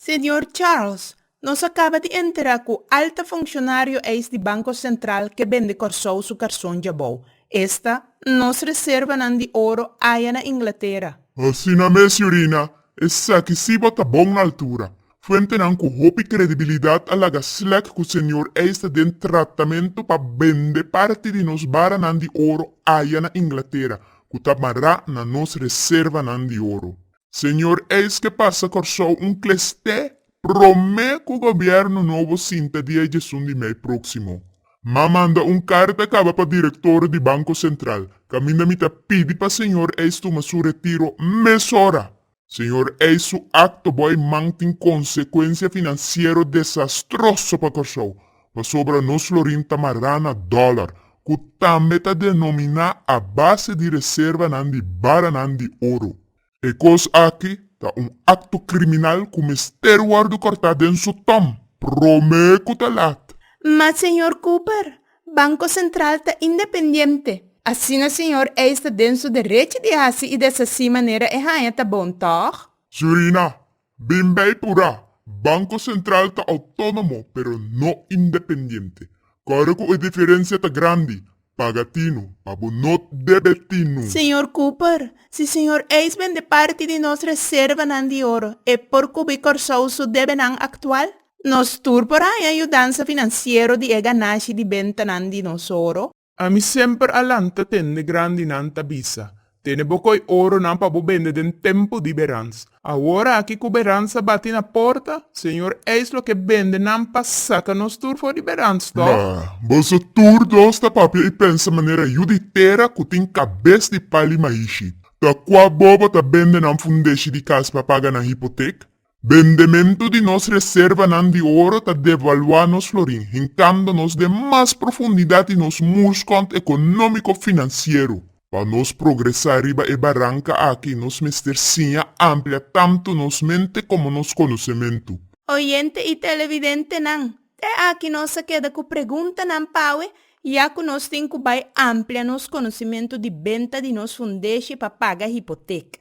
Señor Charles, nos a caba di entera cu alta funccionario eis di Banco Central ke bende Corsou su carson djabou. Esta, nos reservanan di oro aya na Inglatera. Asina mes, Siurina, esaki si bo ta bon na altura. Fuentenan cu hopi credibilidad a laga slek cu señor eis ta den tratamento pa bende parti di nos baranan di oro aya na Inglatera, cu ta mará na nos reservanan di oro. Señor eisque pasa Corsou un cles te prome cu gobierno nobo sinta dia djesun di mei proximo. Ma manda un carta caba pa director di Banco Central, caminda mi ta pidi pa señor eis tuma su retiro mesora. Señor eis su acto bo ei man tin consecuencia financiero desastroso pa Corsou. Pasobra nos florin ta mará na dòlar, ku tambe ta denominá a base di reservanan di baranan di oro. E kos aki ta un akto kriminal ku mester wòrdu kòrtá den su tòm, promé ku ta lat. Ma señor Cooper, Banko Sentral ta independiente. Asina señor Eyes ta den su derechi di hasi i deshasí manera e haña ta bon, tòg? Sigurina, Bin bay pura, Banco Central ta autonomo pero no independiente. Kore ku e diferensia ta grandi, paga tinu, pa bo no debe tinu. Señor Cooper, si señor Ace bende parti di nos reservanan di oro, e por kubí Kòrsou su debenan aktual? Nos tur por haña yudansa finansiero di e ganashi di bentanan di nos oro? Ami semper a lanta tende grandinan ta bisa, Tene bo koi oronan pa bo bende den tempu di berans. Awor aki ku berans a bati na porta, señor eis lo ke bende nan pa saka nos tur for di berans, tòg? Ma, boso tur dos ta papia i pensa manera yu di tera ku tin kabes di pali maishi. Ta kua bobo ta bende nan fundeshi di kas pa paga nan hipotek? Bendementu di nos reservanan di oro ta devaluá nos florin, hinkando nos den mas profundidat di nos murskònt ekonómiko-finansiero. Pa nos progresá riba e baranka aki nos mester siña amplia tantu nos mente komo nos konosementu. Oyente i televidentenan, te aki nos a keda ku preguntanan pa awe, ya ku nos tin ku bai amplia nos konosimentu di benta di nos fundeshi pa paga hipotek.